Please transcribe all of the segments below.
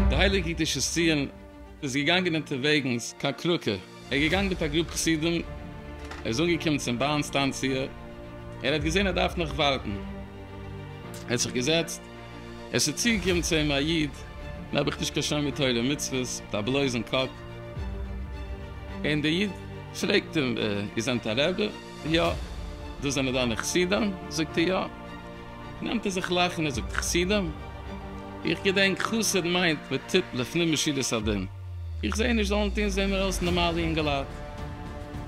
די הייליגע קדושת ציון איז געגאנגען אונטערוועגנס קיין קראקע, ער איז געגאנגען מיט א גרופ חסידים, ער איז אנגעקומען צום באן סטאנציע, ער האט געזען ער דארף נאך ווארטן, ער האט זיך געזעצט, עס איז צוגעקומען צו אים א איד, נעב איך נישט קיין שומר תורה ומצוות, מיט א בלויזן קאפ, און דער איד פרעגט אים, איר זענט א רבי? יא. דאס זענען דיינע חסידים? זאגט ער, יא. נעמט ער זיך לאכן און זאגט, חסידים? איך געדענק חסיד מיינט מען טוט לפנים משורת הדין, איך זע נישט זאלן טון, זעען מיר אויס נארמאלע יונגעלייט.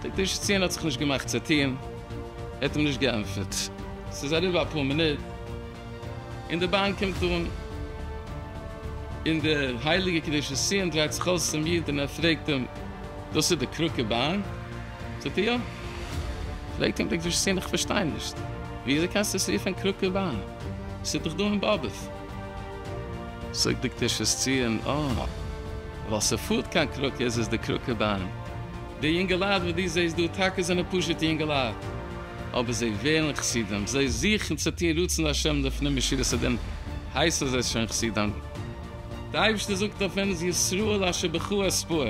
דער טישצינער האט זיך נישט געמאכט צו טון, ער האט אים נישט געענטפערט. ס'איז אריבער אפאר מינוט. און די באן קומט אן, און דער הייליגער קדושת ציון דרייט זיך אויס צום איד און ער פרעגט אים, דאס איז די קראקע באן? זאגט ער, יא. פרעגט אים דער קדושת ציון, איך פארשטיי נישט, וויאזוי קענסטו עס רופען קראקע באן? עס איז דאך דא אין באבוב. זאגט דער קדושת ציון, אה, ווייל ס'פארט קיין קראקע איז עס די קראקע באן. די יונגעלייט וואס דו זעסט דא, טאקע זענען פשוטע יונגעלייט. אבער זיי ווערן חסידים, זיי זוכן צו טון רצון השם לפנים משורת הדין, הייסן זיי שוין חסידים. דער אייבערשטער זאגט אויף אונז ישראל אשר בך אספוה,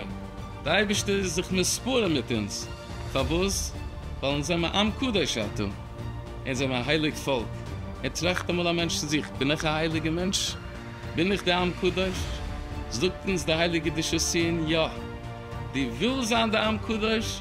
דער אייבערשטער איז זיך מספר מיט אונז, פארוואס? ווייל אונז זעמער עם קדוש אתה, אונז זעמער א הייליג פאלק, און טראכט אמאל א מענטש צו זיך, בין איך א הייליגער מענטש? בין איך דער עם קדוש? זאגט אונז דער הייליגער דשאסיען, יא! דו ווילסט זיין דער עם קדוש?